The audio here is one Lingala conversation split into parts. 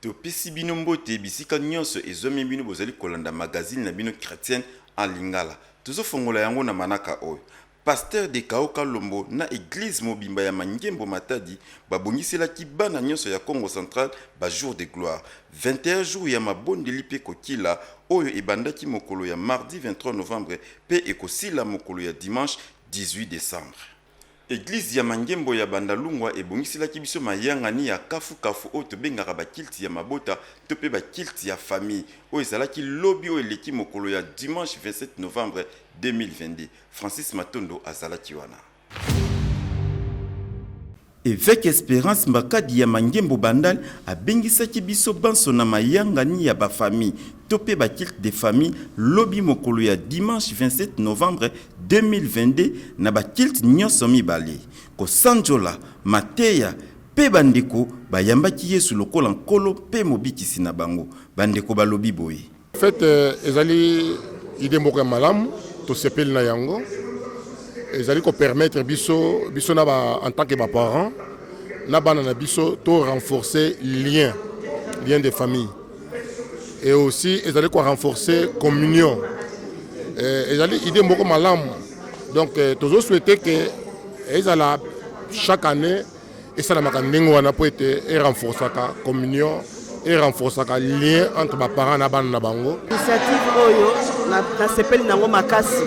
Topesi bino mbote bisika nionso ezwami bino bozali kolanda magazine na bino chretienne en lingala. Tozo fongola yango na manaka oyo, Pasteur Dekao Kalombo na eglise mobimba ya Mangembo Matadi babongiselaki bana nionso ya Kongo central ba jours de gloire, 21 jours ya mabondeli pe kokila oyo ebandaki mokolo ya mardi 23 novembre pe ekosila mokolo ya dimanche 18 decembre. Eglise ya Mangembo ya Bandalungwa ebongiselaki biso mayangani ya kafukafu oyo tobengaka ba cultes ya mabota to pe ba cultes ya famille. Oyo ezalaki lobi oyo eleki mokolo ya dimanche 27 novembre 2022. Francis Matondo azalaki wana. Eveque Esperance Mbakadi ya Mangembo Bandal abengisaki biso banso na mayangani ya ba famille to pe ba culte de famille lobi mokolo ya dimanche 27 novembre 2022 na ba culte nionso mibale kosanjola mateya pe ba ndeko bayambaki Yesu lokola Nkolo pe Mobikisi na bango. Ba ndeko balobi boye. Fete ezali idee moko ya malamu, tosepeli na yango. Ezali ko permettre biso biso na ba en tant que ba parents na bana na biso to renforcer lien lien de famille et aussi ezali ko renforcer communion. Eh, ezali idée moko malamu donc eh, tozo souhaiter que ezala chaque année esalamaka ndenge wana mpo ete e renforcaka communion e renforcaka lien entre baparent na bana na bango initiative oyo nasepeli na yango makasi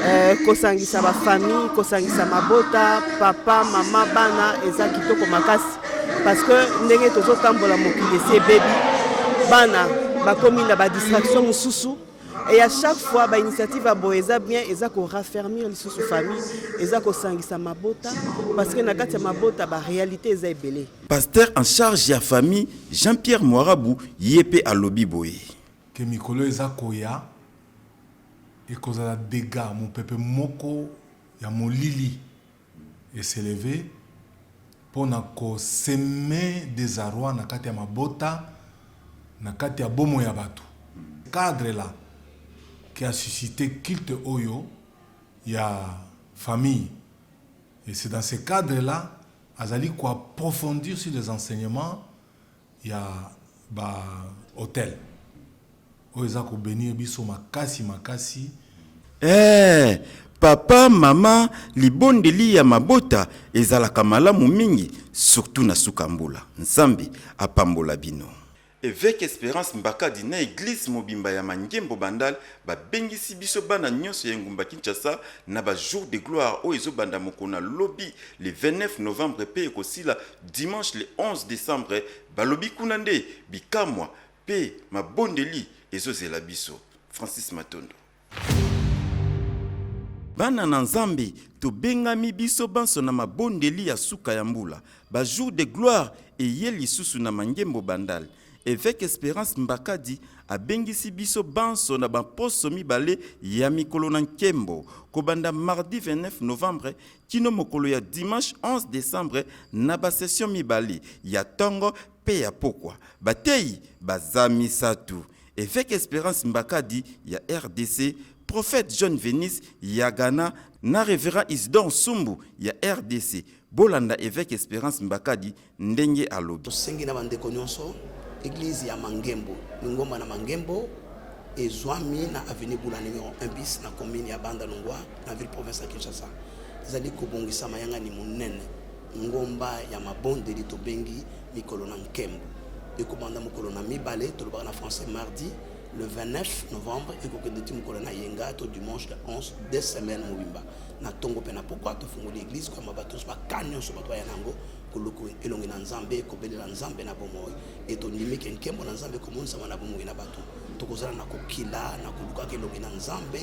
eh, kosangisa bafamille kosangisa mabota papa mama bana eza kitoko makasi parce que ndenge tozotambola mokili esi ebebi bana bakomi na badistraction mosusu Et à chaque fois, ba initiative à Boeza bien, ils ont raffermir les sous famille, ils ont sangisa mabota, parce que nakatia mabota, ba réalité est belé. Pasteur en charge ya famille Jean-Pierre Moarabu, yépe à lobby boye. Que mikolo eza koya, et kozala dega, mon pepe moko ya molili, et se lever mpo na ko semer desarroi na kati ya mabota, na kati ya bomoi ya bato. Cadre là qui a suscite culte oyo ya famille et c'est dans ce cadre là azali ko approfondir sur les enseignements ya ba autel. Oyo eza ko benir biso makasi makasi. Eeh papa mama libondeli ya mabota ezalaka malamu mingi surtout na suka mbula nzambe apambola bino. Eveque Esperance Mbakadi na eglise mobimba ya Mangembo Bandal babengisi biso bana nionso ya engumba Kinshasa na ba jours de gloire oyo ezobanda mokona lobi le 29 novembre pe ekosila dimanche le 11 decembre balobi kuna nde bikamua Pe mabondeli ezo zela biso. Francis Matondo. Bana na Nzambe, tobengami biso banso na mabondeli ya suka ya mbula. Ba jours de gloire eye lisusu na Mangembo Bandal. Eveque Esperance Mbakadi abengisi biso banso na bamposo mibale ya mikolo na nkembo, kobanda mardi 29 novembre kino mokolo ya dimanche 11 decembre na basession mibale ya ntongo mpe ya pokwa bateyi baza misatu, Eveque Esperance Mbakadi ya rdc, Prophète John Venus ya Ghana na Reverend Isidore Nsumbu ya rdc. Bolanda Eveque Esperance Mbakadi ndenge alobi. Tosengi na bandeko nionso eglise ya Mangembo lingomba na Mangembo ezwami na avenue Bula numero 1 bis na commune ya Banda Lungwa na ville province ya Kinshasa ezali kobongisa mayangani monene Ngomba ya mabondeli tobengi mikolo na nkembo ekobanda mokolo na mibale, tolobaka na français mardi le 29 novembre ekokende ti mokolo na yenga to dimanche le 11 de semaine mobimba na ntongo mpe na pokwa tofungoli eglise koyamba bato nyonso baka nyonso bato baya na yango koluku elongi na nzambe kobelela nzambe na bomoi e tondimi ke nkembo na nzambe ekomonisama na bomoi na bato tokozala na kokila na kolukaka elongi na nzambe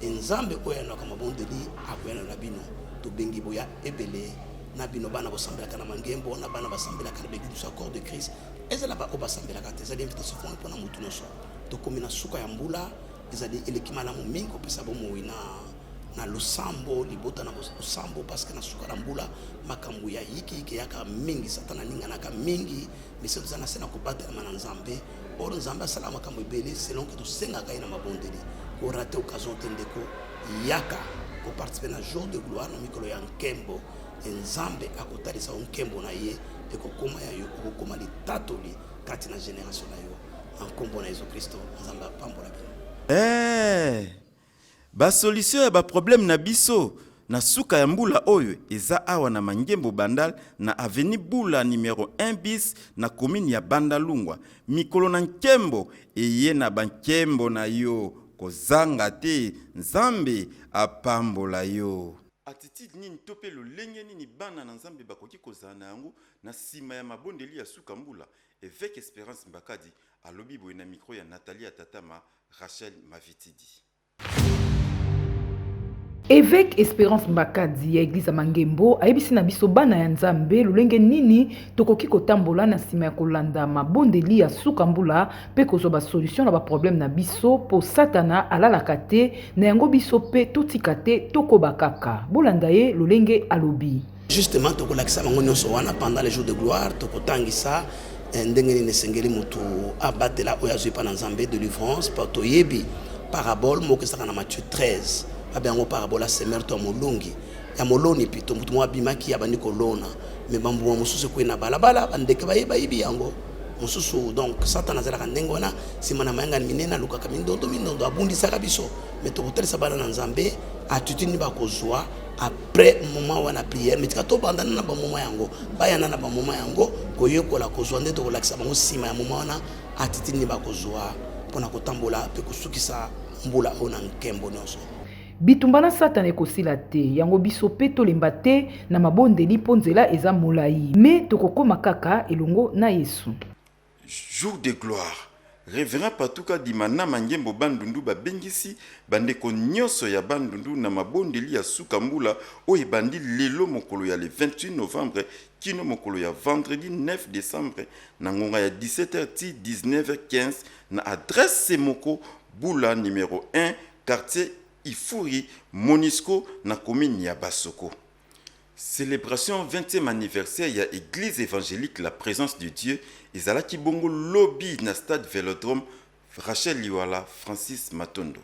e nzambe oyo ayanaka mabondeli akoyana na bino tobengi boya Ebele na bino bana bosambelaka na mangembo na bana basambelaka na begudusu accord de crise ezala baoyo basambelaka te ezali invitation fona mpona motu nyonso tokomi na suka ya mbula ezali eleki malamu mingi kopesa bomoi na na losambo libota na losambo parce que na suka na mbula makambo ya yikiyiki eyaka mingi satana aninganaka mingi mese toza na se na kobatelama na nzambe Or Nzambe asala makambo ebele selon que tosengaka ye na mabondeli. Korate occasion te ndeko, yaka koparticipe na jour de gloire na mikolo ya nkembo e Nzambe akotalisa yo nkembo na ye ekokoma ya yo, okokoma litatoli kati na generation na yo na nkombo na Yesu Kristo. Nzambe apambola bino. Eh! Ba solution ya ba problème na biso na suka ya mbula oyo eza awa na Mangembo Bandal na avenue Bula numero 1 bis na commune ya Bandalungwa. Mikolo na nkembo eye na ba nkembo na yo kozanga te Nzambe apambola yo. Attitude nini to mpe lolenge nini bana na Nzambe bakoki kozala na yango na sima ya mabondeli ya suka mbula? Eveque Esperance Mbakadi alobi boye na micro ya Nathalie Atatama Rachel Mavitidi. Evêque Esperance Mbakadi ya Eglise ya Mangembo ayebisi na biso bana ya Nzambe lolenge nini tokoki kotambola na nsima ya kolanda mabondeli ya suka mbula mpe kozwa basolution na baproblème na biso mpo Satana alalaka te na yango biso mpe totika te tokoba kaka. Bolanda ye lolenge alobi. Justement, tokolakisa bango nyonso wana pendant les jours de gloire, tokotangisa eh, ndenge nini esengeli motu abatela oyo azwi epai na Nzambe, delivrance, mpo toyebi parabole moko ezalaka na Matthieu 13 babe yango parabole ya semeur to ya molongi ya moloni pito motu moko abimaki abandi kolona me bambuma mosusu ekwei na balabala bandeke baye bayibi yango mosusu donc satana azalaka ndenge wana nsima na mayangani minene alukaka mindondo mindondo abundisaka biso me tokotalisa bana na nzambe atitini bakozwa après moment wana prière mitika tobandana na bamoma yango bayana na bamoma yango koyekola kozwa nde tokolakisa bango nsima ya moma wana atitili nde bakozwa mpona kotambola mpe kosukisa mbula oyo na nkembo nyonso bitumba na satana ekosila te yango biso mpe tolemba te na mabondeli mpo nzela eza molai me tokokoma kaka elongo na yesu Jour de gloire. Reverend Patou Kadima na Mangembo Bandundu babengisi bandeko nionso ya Bandundu na mabondeli ya suka mbula oyo ebandi lelo mokolo ya le 28 novembre kino mokolo ya vendredi 9 decembre na ngonga ya 17 heures tii 19 heures 15 na adresse se moko Bula numero 1 quartier Ifuri Monisco na commune ya Basoko. Celebration 20e anniversaire ya eglise evangelique la presence de Dieu ezalaki bongo lobi na stade velodrome Rachel Liwala, Francis Matondo.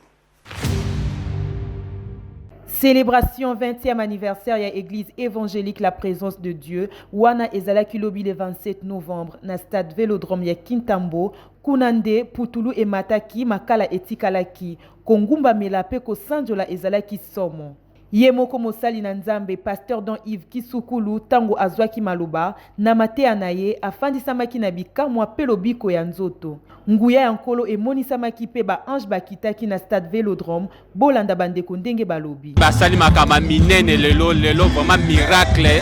Celebration 20e anniversaire ya eglise evangelique la presence de Dieu wana ezalaki lobi le 27 novembre na stade velodrome ya Kintambo kuna nde putulu emataki makala etikalaki kongumbamela mpe kosanjola ezalaki somo. Ye moko mosali na Nzambe, Pasteur Don Yves Kisukulu, tango azwaki maloba, na mateya na ye, afandisamaki na bikamwa mpe lobiko ya nzoto. Nguya ya Nkolo emonisamaki mpe ba anges bakitaki na stade Velodrome, bolanda bandeko ndenge balobi. Basali makambo ya minene lelo lelo vraiment miracle.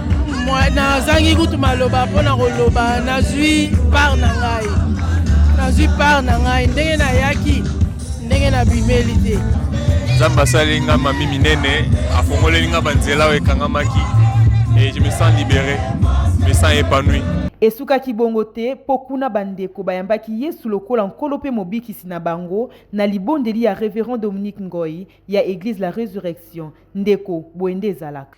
nazangi kutu maloba mpo na koloba nazwi part na ngai nazwi part na ngai ndenge nayaki ndenge nabimeli te nzambe asali nga mami minene afongoleli nga banzela oyo ekangamaki et je me sens libéré me sens épanoui esukaki bongo te mpo kuna bandeko bayambaki yesu lokola nkolo mpe mobikisi na bango na libondeli ya reverend dominique ngoi ya eglise la résurrection ndeko boye nde ezalaka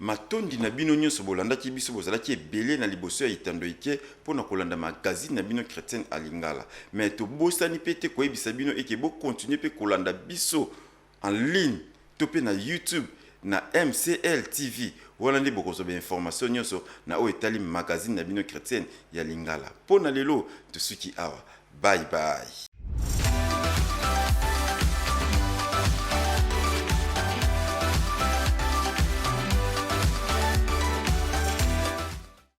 matondi na bino nyonso bolandaki biso bozalaki ebele na liboso ya etando ike mpo na kolanda magazine na bino chrétienne alingala me tobosani mpe te koyebisa bino eke bokontinue mpe kolanda biso en ligne to pe na YouTube na MCL TV, wana nde bokozwa ba informations nionso na oyo etali magazine na bino chretienne ya lingala. Po na lelo tosuki awa. Bye bye.